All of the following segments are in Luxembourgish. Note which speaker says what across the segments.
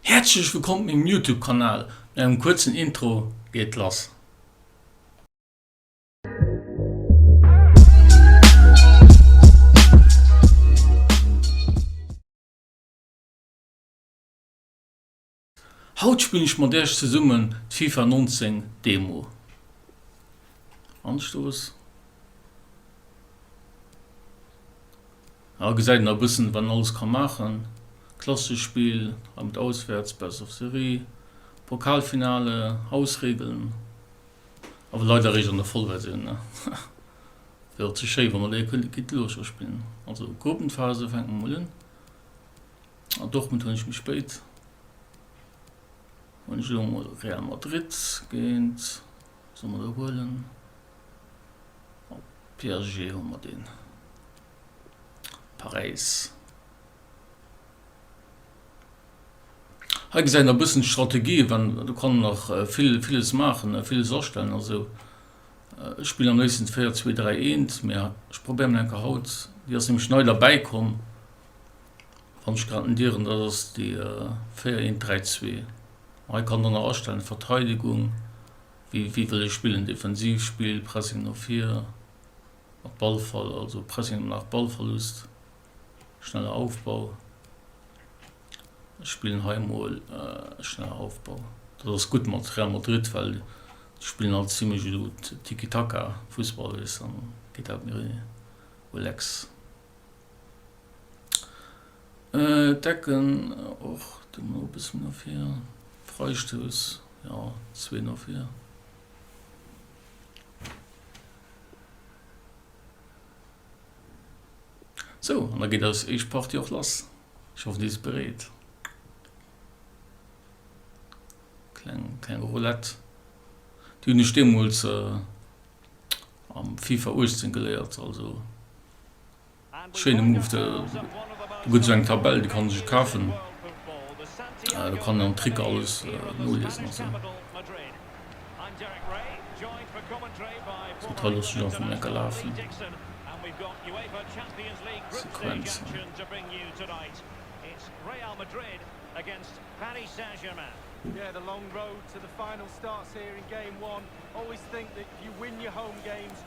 Speaker 1: Häerzlech wëllkomm op mengem Youtube Kanal, no engem kuerzen Intro geet et lass. Haut spillen ech mat iech zesummen d'Fifa 19 Demo. Hei gesäit een a bëssen wat een alles ka maachen, klassesch Spill, hei mat Auswäerts, Best of Serie, Pokalfinale, Hausregeln, awer leider eréischt an der Vollversioun ne, wär och ze schéi wa mer léier kënnte Guide de l'Ocean spillen. Also Gruppenphase fänkt mer mol un, a Dortmund hunn ech méi spéit, hunn ech elo mol Real Madrid géint, soll mer do huelen, PSG hu mer deen. Paräis. Hei gesäit een nach e bëssen d'Strategie, wann, do kann een nach vill, villes maachen, villes astellen. Also ech spillen am léifsten d'Véier, zwee, dräi, eent, mä ech probéieren elo eng Kéier haut, déi ass nämlech nei derbäi komm, wann ech grad net ieren, dat ass déi véier, eent, dräi, zwee. Hei kann dann nach astellen, Verteidegung, wéi, wéi wëll ee spillen, Defensivspill, Pressing no vir. Mat Ballverl also Pressing nach Ballverlust, schneller Aufbau. Ech spillen hei emol schneller Aufbau. Dat ass gutt mat Real Madrid, well déi spillen alt zimmlech esou Tiki-Taka Fussball, weess de, an geet dat méi relax. D'Ecken och do mol e bëssen méi no vir. Freistouss, jo zwee no vir. So, an da geet eis éischt Partie och lass. Ech hoffen, Dir sidd bereet. Kleng, kleng Roulette. Déi hunn ech deemools am FIFA 18 geléiert, also. Schéine Move, de gëtt esou eng Tabell, déi kann ee sech kafen, do kann een am Trick alles noliesen a sou. Sou, d'Hei loosse ech einfach mol enke lafen, d'Sequenzen.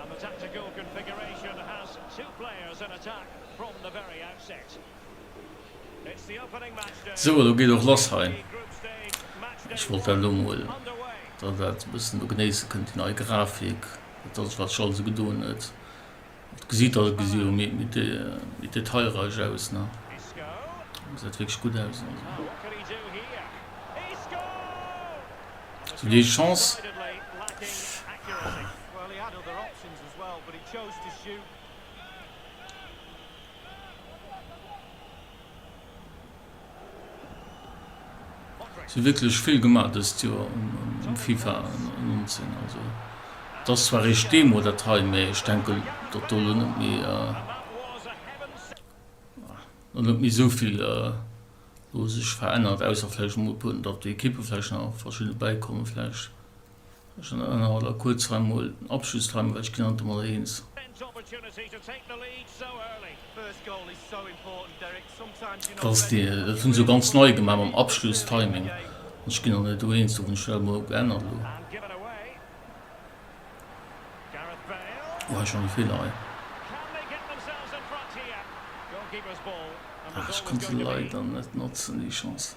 Speaker 2: And the tactical configuration has two players in attack from the very outset. It's the opening match day. Sou, elo geet och lass hei.
Speaker 1: Ech wollt dat elo mol, datt der dat e bëssen do genéisse kënnt, déi nei Grafik, dat datt wat sech alles gedoen huet. Et gesitt, datt et gesi méi, méi detailreich aus, ne? Gesäit wierklech gutt aus, also. Sou, déi Chance. Si hu wierklech vill gemaach dëst Joer um FIFA 19. Also et ass zwar eréischt d'Demo dat hei, mee ech denken, datt do elo net méi elo net méi esou vill elo sech verännert, ausser vläicht emol e puer, datt Ekippe vläicht nach verschidde bäikommen vläicht. Ech ënnerhale da kuerz hei mol den Abschlusstimer, well ech ginn haut emol eens. Dat ass dee, dat hunn se jo ganz nei gemaach mam Abschlusstiming. An ech ginn dann hei do eens, do hunn ech dat emol geännert elo. Oh, hei schonn e Feeler hei. Ah, ech konnt se leider net notzen, déi Chance.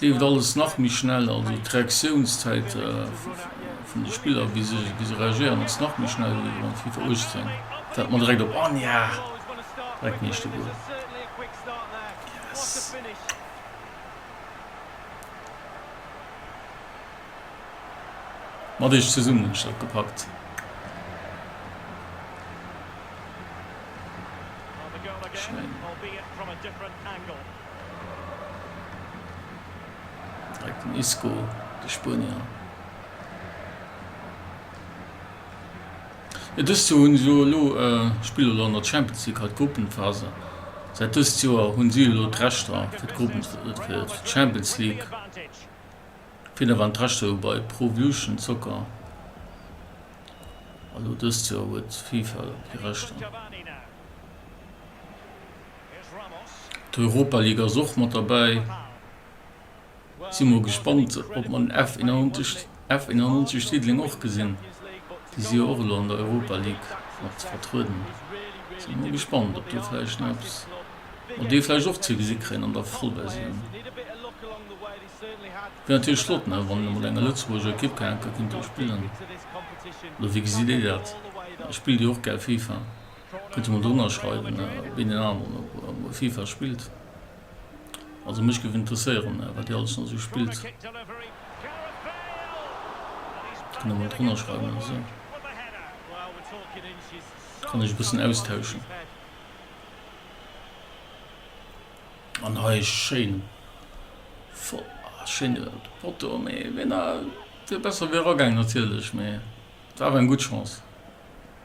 Speaker 1: Et leeft alles nach méi schnell, also d'Reaktiounszäit vun de Spiller bis se reagéieren ass nach méi schnell wéi elo an FIFA 18. Dat hat mer direkt op an ja direkt d'nächste Goal yes. Mat iech zesummen hunn ech dat gepackt. Schéin. Direkt den Isco, de Spuenier. Jo, dëst Joer hunn se jo elo, spille elo an der Champions League hei d'Gruppenphase. Säit dëst Joer hunn si elo d'Rechter fir d'Gruppen, fir d'Champions League. Firno waren d'Rechter jo bei Pro Evolution Soccer. A lo dëst Joer huet d'FIFA déi Rechter. D'Europa League ass och mat derbäi. Si mol gespannt op mer den F 91 F 91 Diddeleng och gesinn. Déi si jo och elo an der Europa League mat vertrueden. Si mol gespannt op do vläicht nach eppes mat dee vläicht och ze gesi kréien an der Vollversioun. Wier natierlech flott ne wann ee mat enger Lëtzebuerger Ekipp kéint do spillen. Oder wéi gesitt Dir dat? Spillt Dir och gär Fifa? Kënnt Dir mol drënner schreiwen wéi deen aneren op Fifa spillt? Also mech géif interesséieren wat Dir alles nach esou spillt. Kënnt Der mol drënner schreiwen esou kann ech e bëssen austauschen. An hei e schéin Fo ah schéin Foto mee wéi na wier besser wéi eragaang natierlech mee war awer eng gutt Chance.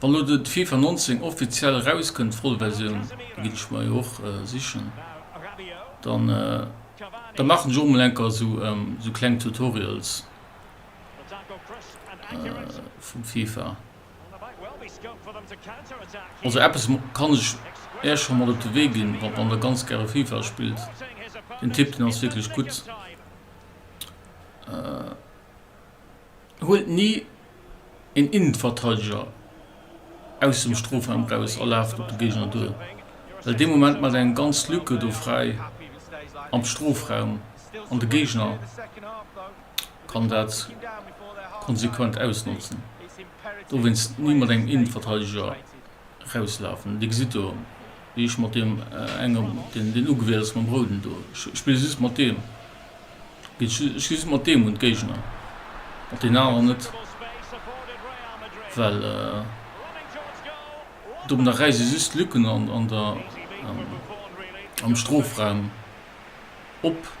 Speaker 1: Wann lo den Fifa 19 offiziell eraus kënnt, voll Versioun, da ginn ech mer jo och sichen, dann da maachen ech och mol enker esou kleng Tutorials vum Fifa. Also eppes kann ech Äech scho mat op de Wee ginn, Wa wann Der ganz gäre FIFA spillt, den Tipp den ass wierklech gutt, huelt ni een Innenverteideger aus dem Strofraum eraus a laaft op de Géigner duer, well dee Moment maacht eng ganz Lücke do fräi am Strofraum an de Géigner kann dat konsequent ausnotzen, dowéinst ni mat engem Innenverteideger rauslafen. Dir gesitt do, wéi ech mat deem engem, deen, deen ugewielt ass, mam Rouden do, ech spillen just mat deem, ech ginn just mat deem un d'Géigner, mat deenen aneren net, well domadder räisse ech just Lücken an der, am Strofraum. op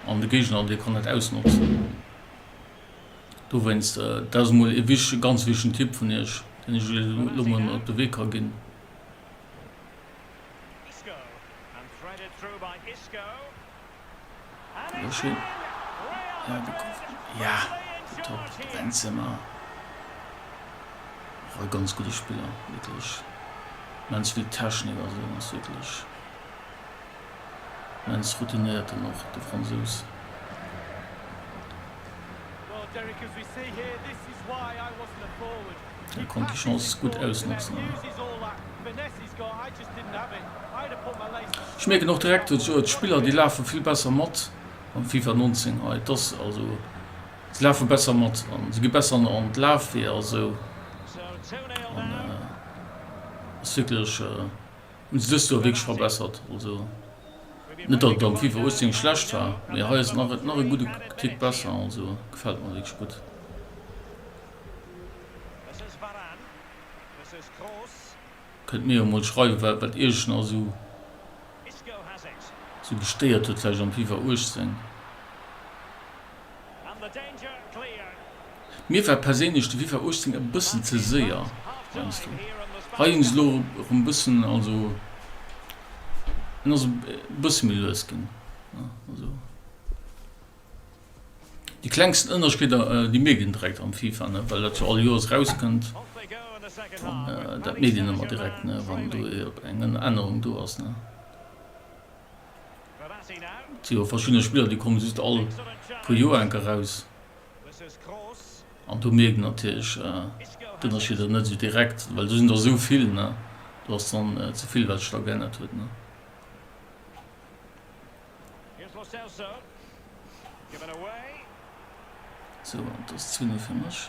Speaker 1: an de Géigner dee kann dat ausnotzen. Dowéinst, dat ass emol ee wichtege, ganz wichtegen Tipp vun iech, deen ech iech elo emol mat op de Wee ka ginn. Benzema, och e ganz gudde Spiller, wierklech, immens vill Technik a sou, ass wierklech. Immens routinéiert dann och de Fransous. Hie konnt déi Chance gutt ausnotzen. Ech mierken och direkt do d'Joer, d'Spiller déi lafe vill besser mat am FIFA 19 hei. Et ass also, se lafe besser mat an se gi besser an an d'Lafweeër esou. An ass wierklech. Hunn se dëst Joer wierklech verbessert. Also net datt et am Fifa 18 schlecht war, mee hei ass et nach e gudde Tick besser. Also gefält mer wierklech gutt. Kënnt mir jo mol schreiwe wat wat iech nach esou esou gestéiert huet vläicht am Fifa 18. Mir war perséinlech de Fifa 18 e bëssen ze séier, heiansdo. Hei hunn se elo erëm bëssen, also en ass e bësse méi lues ginn. Also déi klengsten Ënnerscheeder, déi mierkt een direkt am Fifa, ne, well dat jo all Joers erauskënnt. Dat mierkt een ëmmer direkt, ne, wann do eng Ännerung do ass, ne. Et si jo verschidde Spiller, déi komme just all puer Joer enk eraus. An do mierkt een natierlech d'Ënnerscheeder net esou direkt, well do sinn der esou vill. Do ass dann ze vill, wat sech da geännert huet. Sou, an et ass 10 Uer fir mech.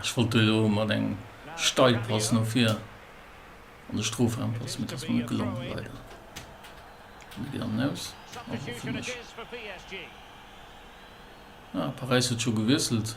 Speaker 2: Ech
Speaker 1: wollt do jo mat engem Steilpass no vir an de Strofraum passen, mee et ass mer net gelongen, leider. An et geet an den Aus, also fir mech. Ah, Paräis huet scho gewiesselt.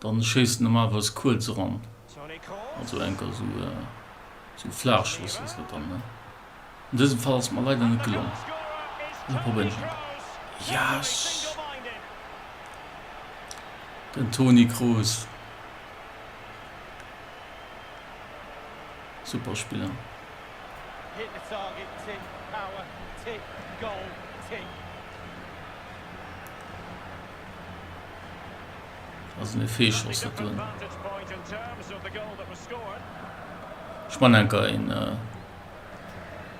Speaker 1: Dann schéisst en normalerweis kuerz eran, also enker sou flaach Schoss ass dat dann. An dësem Fall ass et mer leider net gelongen. Elo probéieren ech enker. Yes! Den Toni Kroos, super Spiller. Also mir Feeschoss hat hun. Ech man enker een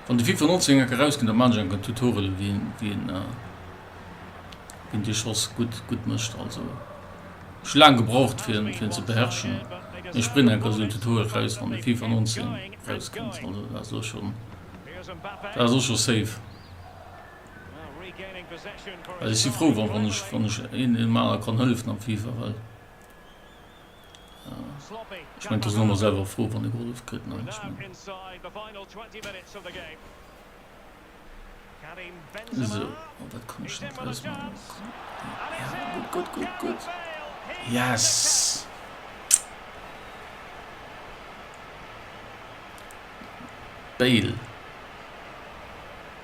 Speaker 1: wann de FIFA 19 enker rausgin, da man ech enker Tutorial wien wien wien dee Schoss gutt gutt mëscht. Also ech hu laang gebraucht fir fir en ze beherrschen, mee ech bréngen enker esou en Tutorial raus wann de FIFA 19 rauskënnt. Also dat ass och schon dat ass och schon safe. Well ech si frou wann ech wann ech een deem aner kann hëllefen am Fifa, well ech mengen d'as en ëmmer selwer frou wann e gehollef kritt ne, ech mengen esou. Oh dat kann ech net ausmaachen, gutt gutt gutt gutt yes. Bale.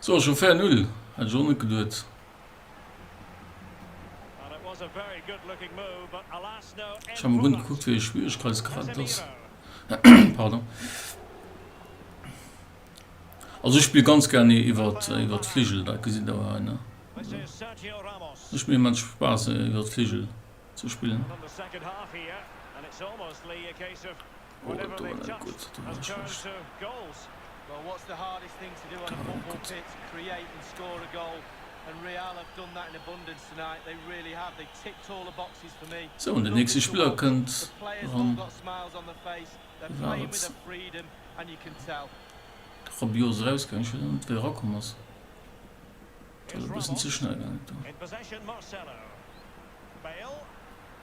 Speaker 1: So schon fair null, hätt ech och net geduet. Ech han mol run gekuckt wéi e Schwieregkeitsgrad ass pardon. Also ech spill ganz gern ee iwwert iwwert Fligel, dat gesitt der jo hei ne.
Speaker 2: Mécht mir immens Spaass
Speaker 1: ee iwwert Fligel ze spillen. Ohlen
Speaker 3: do net gutt ze dinn ass schlecht. Sou an den nächste Spiller
Speaker 1: kënnt eran
Speaker 3: war et Rabiot ass
Speaker 1: erausgaang ech weess awer net wéi e rakomm ass et ass e bëssen ze schnell gaangen
Speaker 2: do.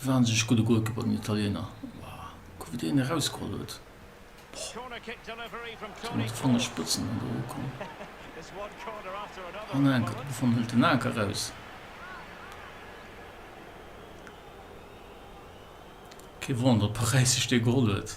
Speaker 1: Wahnsinneg gudde Goal geholl den Italiener. Kuck wéi deen erausgeholl huet.
Speaker 2: Boah. Mat Fangerspëtzen
Speaker 1: an do ukomm.
Speaker 2: An enker. Wovon hëlt
Speaker 1: den Anker raus? Kee Wonder, Paräis sech dee geholl huet.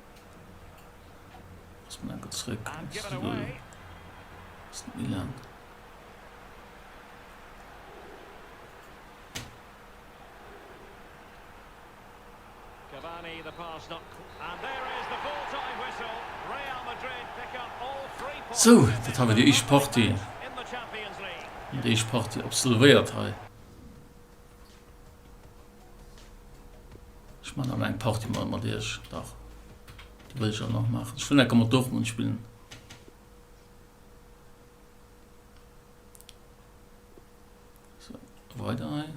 Speaker 2: Sou, dat hei war déi éischt
Speaker 1: Partie,
Speaker 2: déi éischt Partie
Speaker 1: absolvéiert hei. Ech man an eng Party mal mat Iech dach Di wëll ech an nach maachen. Ech wëll enke mat Dortmund spillen. So, weider hei.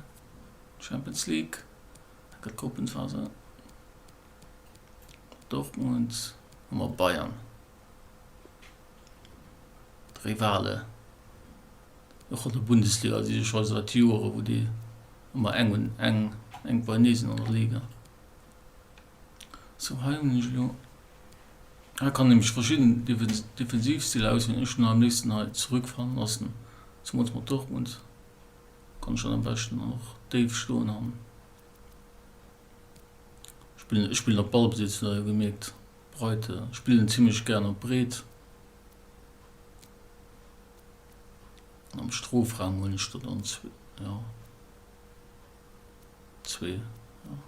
Speaker 1: Champions League. Da gëtt Gruppenphase. Dortmund. Hammer Bayern. D'Rivale. Och an der Bundesliga si se scho seit Joere wou déi ëmmer eng un eng eng bei nees an der Liga. Sou hei hunn ech elo, hei kann ee mech verschidden Defensivstiller auswielen. Ech hunn am léifsten hei zurück fallen lassen, zemools mat Dortmund kann ech dann am beschten dann och déif stoen an spillen. Ech spillen op Ballbesitz hutt der jo gemierkt, breite spillen zimlech gären op breet. Am Strofraum hunn ech der dann zwee, jo zwee, jo.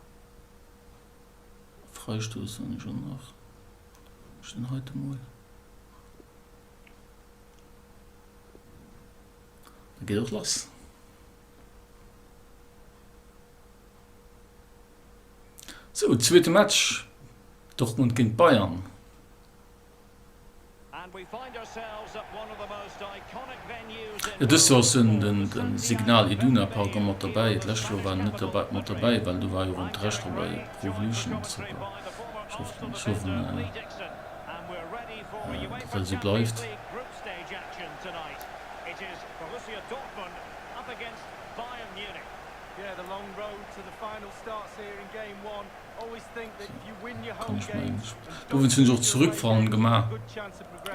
Speaker 1: Freistouss hunn ech och nach, hunn ech den heiten emol. Da geet och lass. Sou, zweete Match, Dortmund géint Bayern.
Speaker 2: Dëst Joer ass dunn
Speaker 1: den Signal Iduna Park och mat derbäi. D'lescht Joer war en net mat derbäi, well do war jo rëm d'Recht dra bei Pro Evolution Soccer. Ech hoffen, ech hoffen, datt dat esou bleift.
Speaker 3: Kann ech meng,
Speaker 1: dowéinst hunn ech
Speaker 3: och
Speaker 1: d'Zurückfahren gemaach.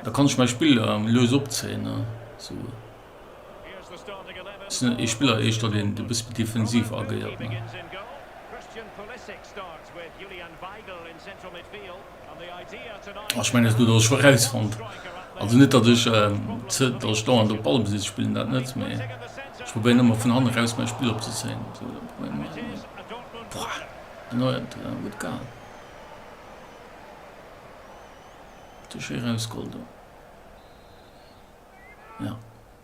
Speaker 1: Da
Speaker 3: kann ech mäi Spill lues
Speaker 1: opzéien. Ech sinn net ee Spiller eischter, deen e bësse defensiv agéiert. Ech mengen, datt ass scho erausfonnt. Also net, datt ech dauernd op Ballbesitz spillen, dat net, mee ech probéieren ëmmer vun hannen eraus mäi Spill opzezéien.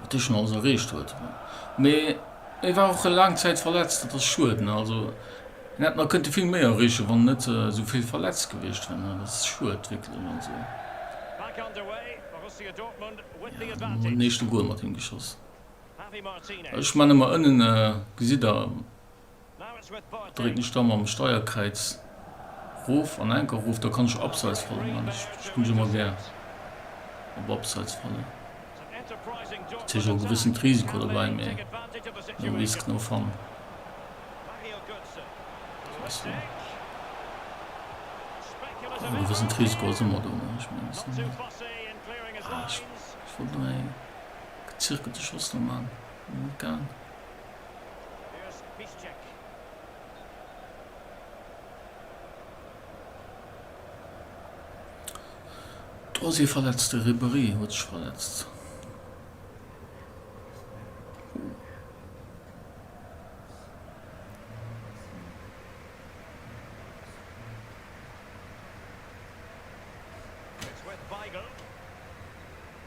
Speaker 1: wat dee schonn alles erreecht huet. Mee e war och laang Zäit verletzt, dat ass schued. Also en hätt nach kënnte vill méi erreechen, wann en net esou vill verletzt gewiescht wär. Dat ass schued wierklech. Also elo
Speaker 2: huet en éischte
Speaker 1: Gol
Speaker 2: mat him geschoss. Ech mengen emmer ënnen
Speaker 1: gesitt der.
Speaker 2: Drécken ech da mam Steierkräiz
Speaker 1: rof an enker rof, da kann ech Abseits fallen man. Ech spille jo ëmmer gär op Abseits fallen.
Speaker 2: Dat heescht och e gewëssent
Speaker 1: Risiko
Speaker 2: dobäi,
Speaker 1: mee no risk, no fun. E gewëssent Risiko ass ëmmer do. Ech wollt nach ee gezirkelte Schoss do man. Net gaangen. Do ass ee verletzt, de Ribéry huet sech verletzt.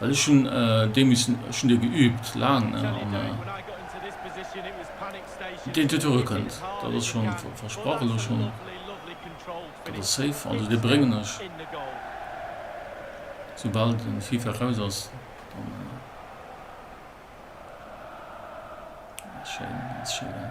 Speaker 1: Well ech hunn dee missen, ech hunn dee geüübt, laang. An
Speaker 3: deen dot do kënnt,
Speaker 1: dat ass scho
Speaker 3: versprach elo schonn, dat ass safe. Also
Speaker 1: dee bréngen ech,
Speaker 3: soubal
Speaker 1: de Fifa raus ass. Dann ass schéin, ass schéin.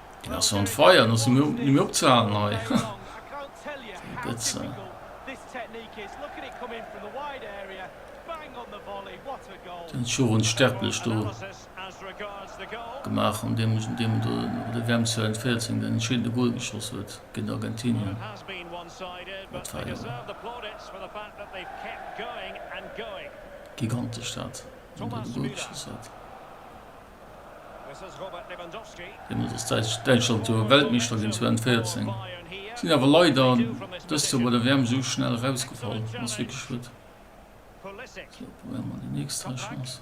Speaker 3: Den
Speaker 1: ass on fire, den ass ni méi, ni méi opzehalen hei.
Speaker 3: Gëtze. Den Jorun Sterblech
Speaker 1: do
Speaker 2: gemaach an dem, dem
Speaker 1: do de WM 2014 den entscheedende Goal geschoss huet géint Argentinien.
Speaker 2: Dat war jo gigantesch dat,
Speaker 1: wéi en do de Goal geschoss huet.
Speaker 2: Hien ass als däitsch
Speaker 1: Däitschland jo Weltmeeschter ginn 2014, sinn awer
Speaker 2: leider
Speaker 1: dëst Joer bei der WM esou schnell erausgefall. Ass wierklech schued.
Speaker 2: Sou, probéiere mer
Speaker 1: déi nächst hei Chance.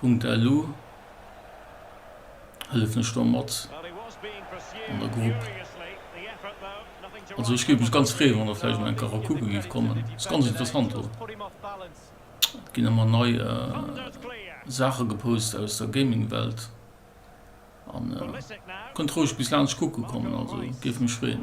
Speaker 1: Punkt elo hëllefen ech do mat
Speaker 2: an der Grupp. Also ech géif mech ganz freeë wann
Speaker 1: der vläicht mol
Speaker 2: enker
Speaker 1: era kucke géift kommen, ass ganz interessant do.
Speaker 3: Et ginn ëmmer
Speaker 1: nei
Speaker 2: Saache gepost
Speaker 1: aus der Gaming Welt an
Speaker 2: kënnt roueg bis laanscht kucke
Speaker 1: kommen, also géif mech freeën.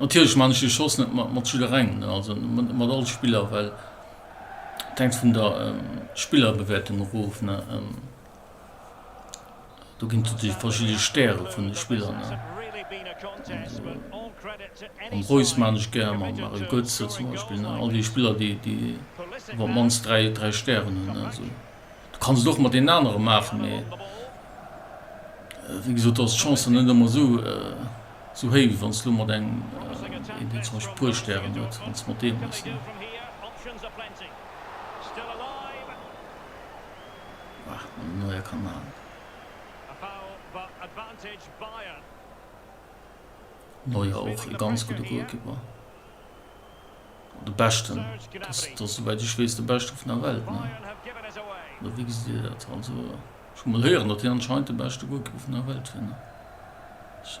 Speaker 1: Natierlech man ech de Schoss net mat jidderengem, also net mat all Spiller, well et hänkt vun der Spillerbewäertung erof. Do ginn et natierlech verschidde Stäre vun de Spiller. Mam Reus maan ech gär, mam Mario Götze zum Beispill, all déi Spiller, déi iwwer d'mannst dräi Stären hunn. Du kanns et och mat deenen anere maachen, mee wéi gesot ass d'Chance net ëmmer esou héich wéi wann s de elo mat engem een deen zum Beispill e puer Stären huet, wann s de mat deem hues ne. Bah, wann den Neuer kann maachen. Neuer och e ganz gudde Golkipper. De beschten, dass dass souwäit ech weess de beschte vun der Welt ne oder wéi gesitt Dir dat? Also ech hu mol héieren datt hien anscheinend de beschte Golkiper vun der Welt wier
Speaker 2: ne ech.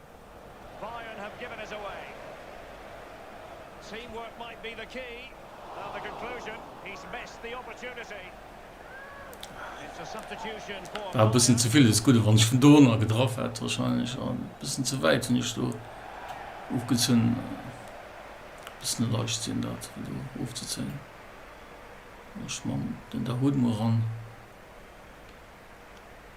Speaker 2: Bayern have given it away. Teamwork might be the key. Now the conclusion, he's missed the opportunity. It's a substitution for War e bëssen Bayern. ze vill des Gudde
Speaker 1: wann ech vun do ënner getraff hätt wahrscheinlech an bëssen ze wäit hunn ech do ofgezunn. Bëssen e Leichtsinn dat fir do ofzezéien. Ech man den Dahoud mol ran.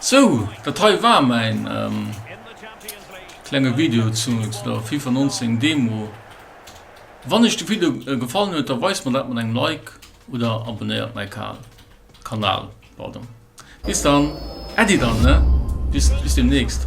Speaker 1: Sou, dat hei war mäin klenge Video zu der Fifa 19 Demo. Wann iech de Video gefallen huet, da weist mer dat mat engem Like oder abonnéiert mäi Kanal. Bis dann, Äddi dann ne, bis deemnächst.